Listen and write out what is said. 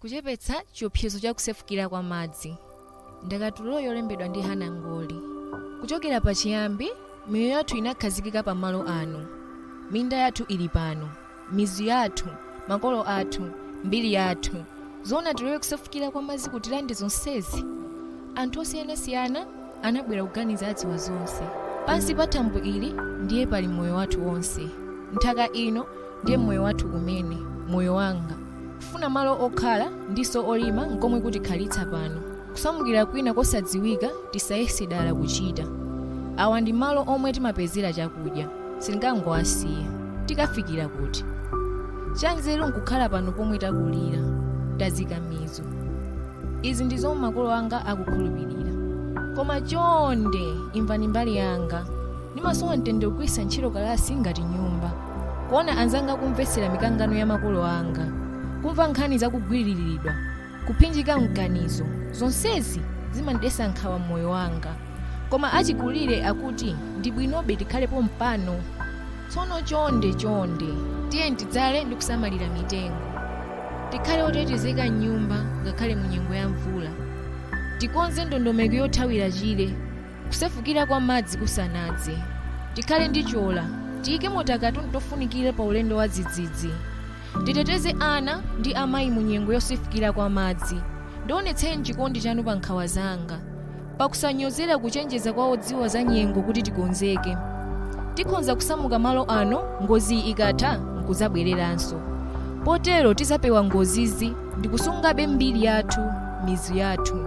Kuchepetsa chiopsezo cha kusefukira kwa madzi. Ndakatulo yolembedwa ndi Hannah Ngoli. Kuchokera pachiyambi, miyoyo yathu inakhazikika pamalo ano. Minda yathu ili pano, mizu yathu, makolo athu, mbiri yathu. Zoona tilore kusefukira kwa madzi kutilande zonsezi? Anthu osiyanasiyana anabwera kuganiza adziwa zonse. Pansi pa thambo ili ndiye pali moyo wathu wonse. Nthaka ino ndiye moyo wathu kumene moyo wanga kufuna malo okhala ndinso olima nkomwe kutikhalitsa pano kusamukira kwina kosadziwika tisayese dala kuchita awa ndi malo omwe timapezera chakudya sitingangowasiya tikafikira kuti chanzeru nkukhala pano pomwe takulira tazika mizu izi ndi zomwe makolo anga akukhulupirira koma chonde imvani mbali yanga ndimasowa mtendere kugwiritsa ntchito kalasi ngati nyumba kuona anzanga kumvetsera mikangano ya makolo anga kumva nkhani zakugwiriridwa kuphinjika mganizo zonsezi zimandidetsa nkhawa mmoyo wanga koma achikulire akuti ndi bwinobe tikhale pompano tsono chonde chonde tiyeni tidzale ndi kusamalira mitengo tikhale otetezeka m'nyumba ngakhale mu nyengo ya mvula tikonze ndondomeko yothawira chire kusefukira kwa madzi kusanadze tikhale ndi chola tiyikemo takatundu tofunikira pa ulendo wa dzidzidzi titeteze ana ndi amayi mu nyengo yosefukira kwa madzi ndionetseni chikondi chanu pa nkhawa zanga pakusanyozera kuchenjeza kwa odziwa za nyengo kuti tikonzeke tikhonza kusamuka malo ano ngoziyi ikatha nkuzabwereranso potero tizapewa ngozizi ndikusungabe mbiri yathu mizu yathu